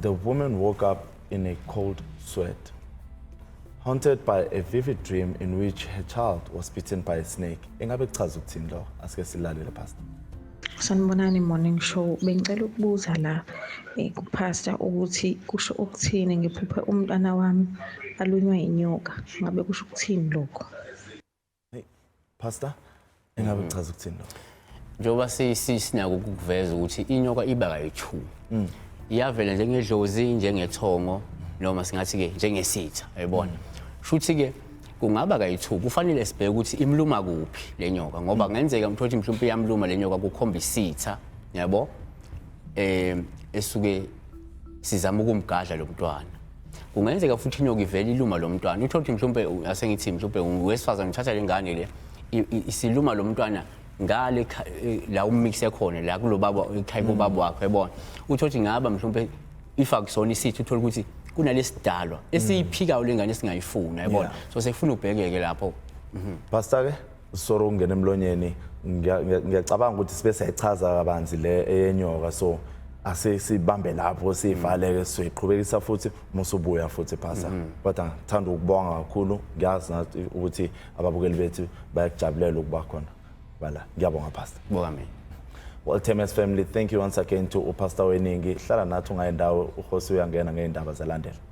The woman woke up in a cold sweat, haunted by a vivid dream in which her child was bitten by a snake. Ingabe kuchaza ukuthini lo? Asike silalele pastor. Sanibonani morning show. Bengicela ukubuza la eh, kupastor ukuthi kusho ukuthini ngiphuphe umntwana wami alunywa inyoka. Ngabe kusho ukuthini lokho? Pastor, engabe mhm. kuchaza ukuthini lokho? Njengoba sisinako ukuveza ukuthi inyoka iba kayithumi. Mm. Iyavela njengedlozi, njengethongo noma singathi ke njengesitha, yabona. Mm. Shuthi ke kungaba kayithuki kufanele sibheke ukuthi imluma kuphi le nyoka ngoba kungenzeka mm. mthothi mhlawumbe iyamluma le nyoka kukhomba isitha yabo eh esuke sizama ukumgadla lo mntwana kungenzeka futhi inyoka ivele iluma lo mntwana uthole ukuthi mhlawumpe asengithi mhlawumpe wesifazane uthatha le ngane le isiluma lo mntwana ngale e, la umix ekhona la kulobaba ekhaya kubaba mm. wakhe yabona uthole ukuthi ngaba mhlawumpe ifa kusona isithi uthole ukuthi kunalesidalwa esiyiphikayo lengane singayifuna yabona so sekufuna ubhekeke lapho mhm. pastor ke sorry ukungena emlonyeni ngiyacabanga ukuthi sibe siyayichaza kabanzi le eyenyoka so asisibambe lapho sivaleke siqhubekisa futhi musubuya futhi phasa mhm. kodwa ngithanda ukubonga kakhulu ngiyazi nathi ukuthi ababukeli bethu bayakujabulela ukuba khona bala ngiyabonga pastor bonga mina Well, Temes family, thank you once again to uPastor Weningi. Hlala nathi ungayendawo uhosi uyangena ngeindaba zalandela.